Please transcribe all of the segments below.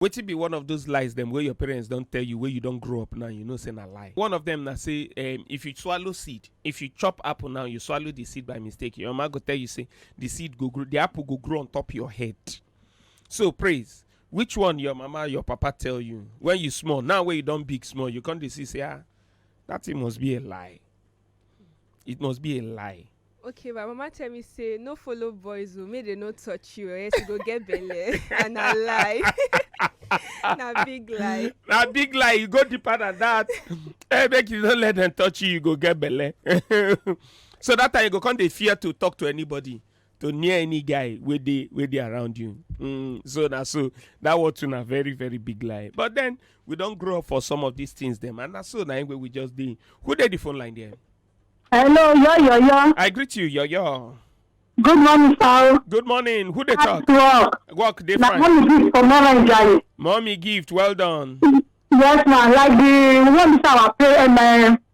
Wetin be one of those lies dem wey your parents don tell you wey you don grow up now you know say na lie? One of them na say um, if you swallow seed, if you chop apple now, you swallow the seed by mistake, your mama go tell you say the seed go grow, the apple go grow on top your head. So praise, which one your mama, your papa tell you when you small? Now wey you don big small, you come dey see say ah, that thing must be a lie. It must be a lie. okay my mama tell me say no follow boys o make dem no touch you or else you go get belle and na lie na big lie na big lie you go deeper than that eh make you no let dem touch you you go get belle so that time you go come dey fear to talk to anybody to near any guy wey dey wey dey around you mm, so na so that one too na very very big lie but then we don grow up for some of these things dem and na so na im wey we just dey who dey the phone line there Hello, yo, yo, yo. i greet you yoyo Good morning, sir. good morning who dey talk Nice work. work dey Na fine only this for Northern Jai. mommy gift well done Yes, ma. Like the one this our parent, my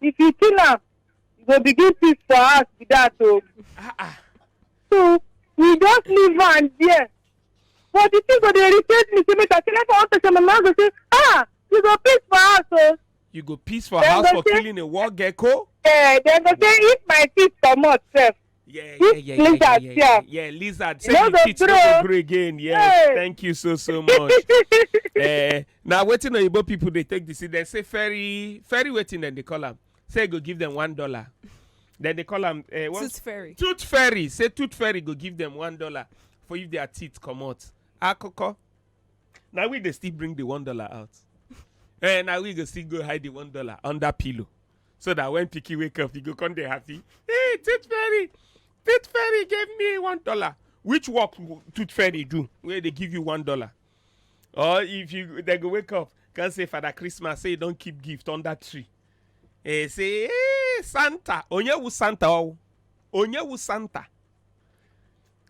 if you kill am you go begin thief for house be that o ah ah so we just leave am there but the thing go dey irritate me say make i say like i wan talk say my mama go say ah you go piss for house o you go piss for Dem house go for say- killing a war gecko eh dem go say if my teeth comot sef Yeah, yeah, yeah, yeah, lizard yeah, yeah, yeah, yeah, lizard. Say no the kids no go grow again. Yes, hey. thank you so so much. uh, eh, now waiting on Igbo people, they take this. They say ferry, ferry waiting, then they call them. Say go give them one dollar. Then they call them uh, eh, what? tooth fairy. Tooth fairy. Say tooth fairy go give them one dollar for if their teeth come out. Akoko. Now we they still bring the one dollar out. and eh, now we go still go hide the one dollar under pillow. so that when pikin wake up you go come dey happy hey tooth fairy tooth fairy give me one dollar which work w- tooth fairy do wey dey give you one dollar or if you dem go wake up come say father christmas say you don keep gift under tree eh say hey santa onyewu santa o onyewu santa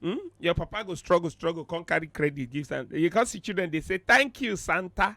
hmm? your papa go struggle struggle come carry credit give santa you come see children dey say thank you santa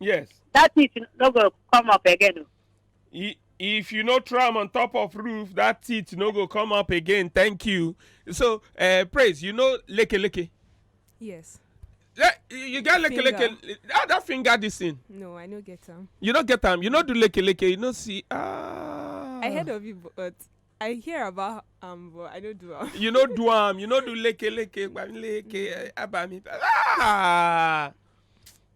yes that teeth no go come up again o. I- if you no try am on top of roof that teeth no go come up again thank you so uh, praise you know leke leke yes Le- you get leke leke Finger. ah that finger this thing no i no get am you no get am you no do leke leke you no see ah i heard of it but i hear about am but i no do am you no do am you no do leke leke gbami leke eh, abami ah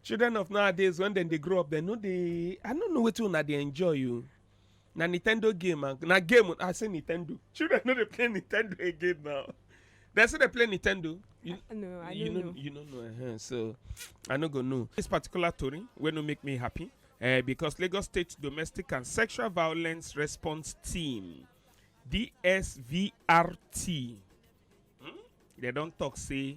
children of nowadays when dem dey grow up dem no dey i no know wetin una dey enjoy o na nintendo game and na game i say nintendo children no dey play nintendo again now dem still dey play nintendo you, No, I you don't know. you no know uh-huh, so i no go know this particular tori wey no make me happy uh, because lagos state domestic and sexual violence response team dsvrt hmm? dem don talk say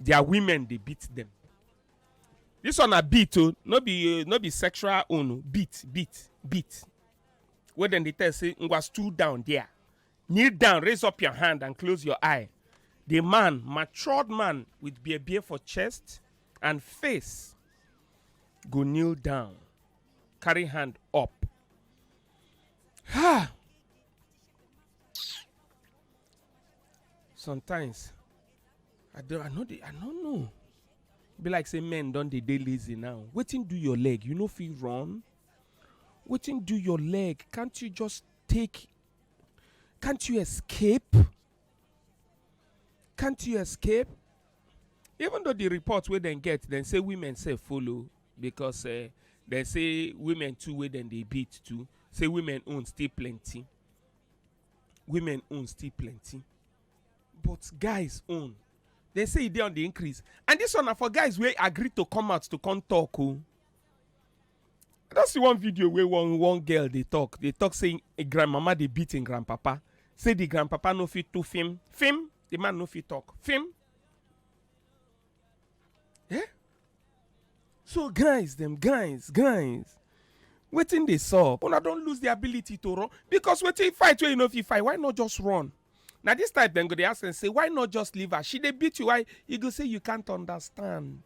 their women dey beat them this one na beat o no be no be sexual own o beat beat beat wey dem dey tell say ngwa stool down there kneel down raise up your hand and close your eye the man matured man with beer beer for chest and face go kneel down carry hand up ha sometimes i don i no dey i no know be like say men don dey dey lazy now wetin do your leg you no fit run wetin do your leg can't you just take can't you escape can't you escape even though the report wey dem get dem say women sef follow because uh, dem say women too wey dem dey beat too say women own still plenty women own still plenty but guys own dem say e dey on the increase and this one na for guys wey agree to come out to come talk o i don see one video wey one one girl dey talk dey talk say im grandmama dey beat im grandpapa say the grandpapa no fit do film film the man no fit talk film eh so guys dem guys guys wetin dey sup una don lose the ability to run because wetin fight wey you no fit fight why not just run na this type dem go dey ask am say why not just leave her she dey beat you why you go say you can't understand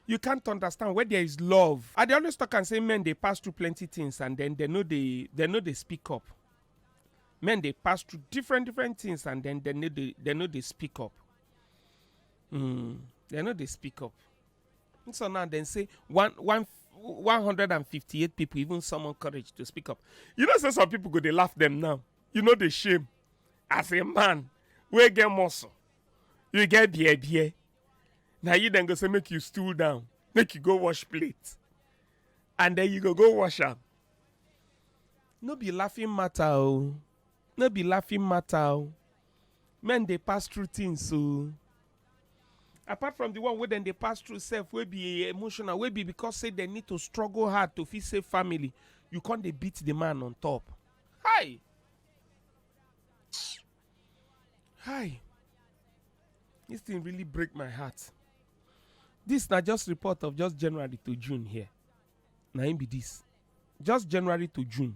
you can't understand where there is love i dey always talk am say men dey pass through plenty things and then dem no dey dem no dey speak up men dey pass through different different things and then dem no dey dem no dey speak up Mm, they no dey speak up. So now they say one one 158 people even summon courage to speak up. You know, say some people go they laugh them now. You know the shame. As a man, we get muscle. You get beer beer. Now you then go say make you stool down, make you go wash plate, and then you go go wash up. No be laughing matter, oh. No be laughing matter, oh. men dey pass through things o apart from the one wey dem dey pass through sef wey be emotional wey be because say dem need to struggle hard to fit save family you come dey beat the man on top hi hi this thing really break my heart this na just report of just january to june here na im be this just january to june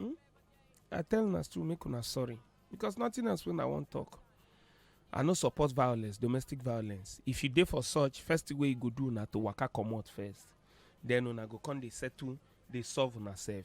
Hmm? I tell una still make una sorry because nothing else when I wan talk. I no support violence, domestic violence. If you dey for such, first thing wey you go do na to waka comot first. Then una go come dey settle, dey solve una sef.